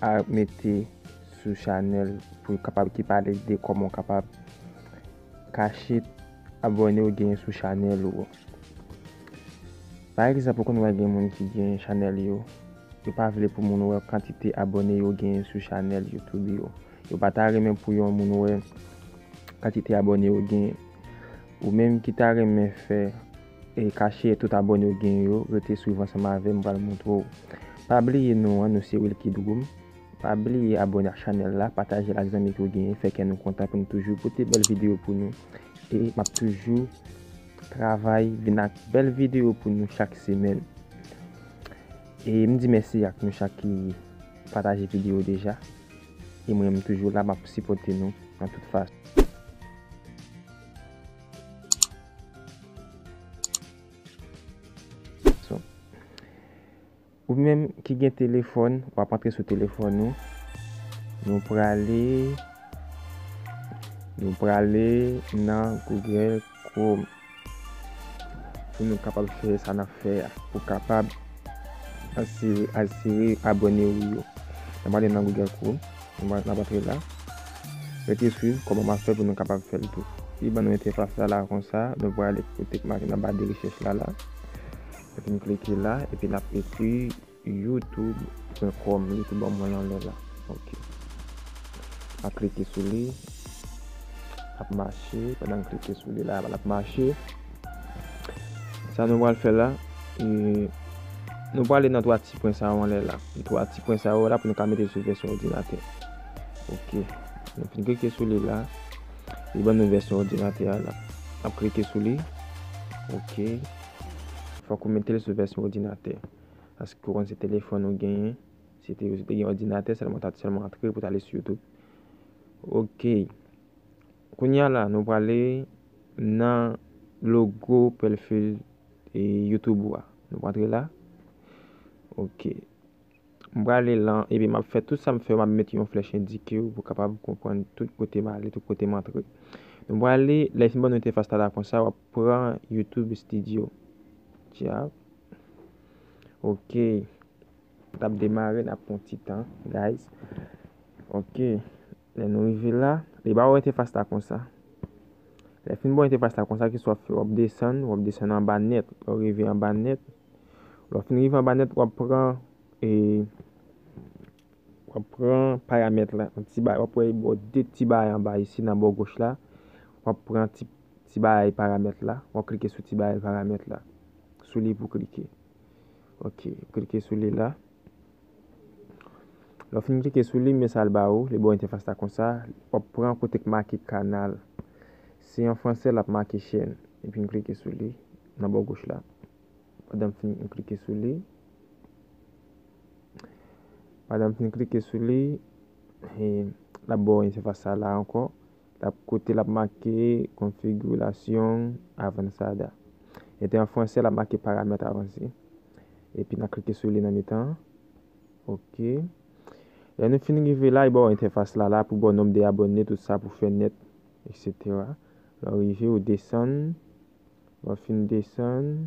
a mete sou chanèl pou yo kapab ki pale de kòman ou kapab kache abòne ou genyen sou chanèl ou. Pa egzanp ou konn wè gen moun ki genyen chanèl yo, yo pa vle pou moun wè kantite abòne yo genyen sou chanèl YouTube yo. Yo pa ta renmen pou yon moun wè kantite abòne yo genyen. Ou menm ki ta renmen fè E kache tout abone ou gen yo rete swiv ansanm avem m pral montre w. Pa bliye non an nou se Wilky Droom. Pa bliye abone ak chanel la patajel ak zanmi ke w genyen fè kè nou kontan pou nou toujou pote bel video pou nou e map toujou travay vin ak bel video pou nou chak semen e m di mèsi ak nou chak ki pataje video deja e mwen m toujou la map sipote nou nan tout fason. Ou menm ki gen telefon, wap antre sou telefon ou. Nou prale, nou prale nan Google Chrome. Pou nou kapab fere sa nan fè ya. Pou kapab asire abone ou yo. Nan prale nan Google Chrome. Mwen ap antre la. Rete swiv kòman map fè pou nou kapab fèl tou. Li ban nou entèfas la la konsa, nou prale kote k make nan ba de rechèch la la. Epi n klike la epi nap ekri youtube pwen kòm li tou ban mwen yon lè la. Ok. Map klike sou li. Lap mache. Pandan m klike sou li la lap mache. Sa nou pral fè la, nou prale nan 3 ti pwen sa yo anlè la. 3 ti pwen sa yo la pou nou ka mete sou vèsyon òdinatè. Ok. Nou fin klike sou li la. Li ban nou vèsyon òdinatè a la. N ap klike sou li. Ok. Fòk ou mete l sou vèsyon òdinatè. Paske ou konn se telefòn ou genyen. Si te gen òdinatè, sèlman ou ta sèlman antre pou w ta ale sou YouTube. Ok. Kounya la nou prale nan logo pelfil YouTube ou a. Nou prantre la. Ok. M prale lan epi map fè tout sa m fè yo map met yon flèch endike ou pou kapab konprann tout kote m ale, tout kote m antre. Nou prale lè fin ban nou entefas ta la konsa wap pran YouTube Studio. Tchap. Ok. Tap demare nap pran ti tan guys. Ok. Lè nou rive la, li ba ou entefas la konsa. Lè fin ba ou entefas la konsa, ki sa w ap fè? W ap desann, w ap desann anba nèt. Lè ou rive anba nèt, lè ou fin rive anba nèt, w ap pran e, w ap pran paramèt la, yon ti bagay, w ap wè li ba ou de ti bagay anba isi nan bò goch la, w ap pran ti, ti bagay paramèt la, w ap klike sou ti bagay paramèt la, sou li pou w klike. Ok, klike sou li la. Lè w fin klike sou li, men sa l ba ou, li ba w entèfas la konsa, w ap pran kote ki make canal. Si an franse l ap make chaîne. Epi m klike sou li nan bò goch la. Pandan m fin klike sou li, pandan m fin klike sou li, l ap ba w entèfas sa la ankò. Lap kote lap make konfigirasyon avansada. Ete an franse lap make paramèt avanse. Epi na klike sou li nan mitan. Ok. Lè nou fin rive la, li ba w entèfas la la pou ba w nonb de abòne, tout sa pou fè nèt, eksetera. Lè w rive, ou desann. Lè w fin desann.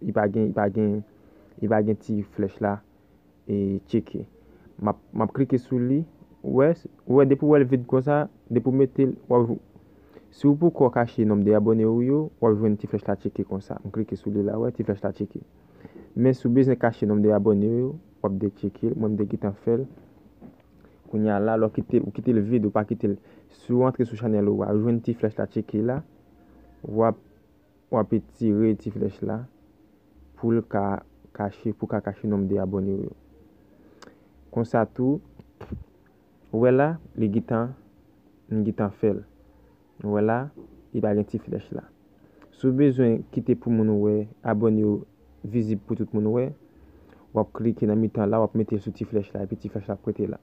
li pa gen li pa gen li pa gen ti flèch la e tcheke map map klike sou li ou wè ou wè depi ou wèl vid konsa depi ou metel wap jwenn si ou poko kache nonb de abòne ou yo wap jwenn ti flèch la tcheke konsa m klike sou li la ou wè ti flèch la tcheke men si ou bezwen kache nonb de abòne ou yo wap de tcheke mwen m te gentan fèl kounya la lè ou kite ou kitel vid ou pa kitel si ou antre sou chanèl ou a ou jwenn ti flèch la tcheke la wap W ap etire ti flèch la pou l ka kache pou w ka kache nonb de abòne w yo. Konsa tou, ou wè la, li gentan, m gentan fè l. Ou wè la, li pa gen ti flèch la. Si w bezwen kite pou moun wè, abòne w vizib pou tout moun wè, w ap klike nan mitan la, w ap mete l sou ti flèch la epi ti flèch la ap rete la.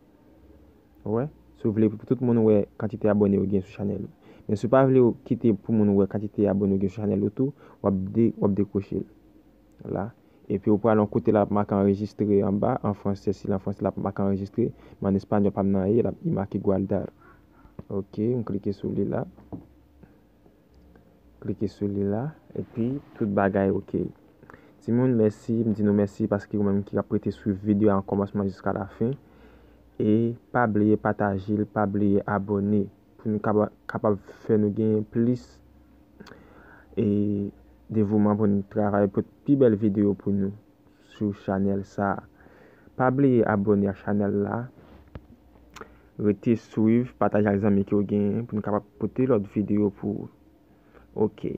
Wè si w vle pou tout moun wè kantite abòne ou gen sou chanèl ou. Men si w pa vle w kite pou moun wè kantite abòne ou gen sou chanèl ou tou, w ap de w ap dekwoche l la. Epi w pral yon kote la ap make anrejistre anba an fransè si l an fransè l ap make anrejistre men an espanyòl pa m nan anyen l ap make guardar. Ok m klike sou li la. Klike sou li la epi tout bagay ok. Timoun mèsi, m di nou mèsi paske ou menm ki ap rete swiv videyo a nan kòmansman jiska lafen. E pa bliye pataje l, pa bliye abòne pou nou kapab fè nou genyen plis e devouman pou nou travay pou pi bèl videyo pou nou sou chanèl sa. Pa bliye abòne ak chanèl la. Rete swiv, pataje ak zanmi ke w genyen pou nou kapab pote lòt videyo pou ou. Ok.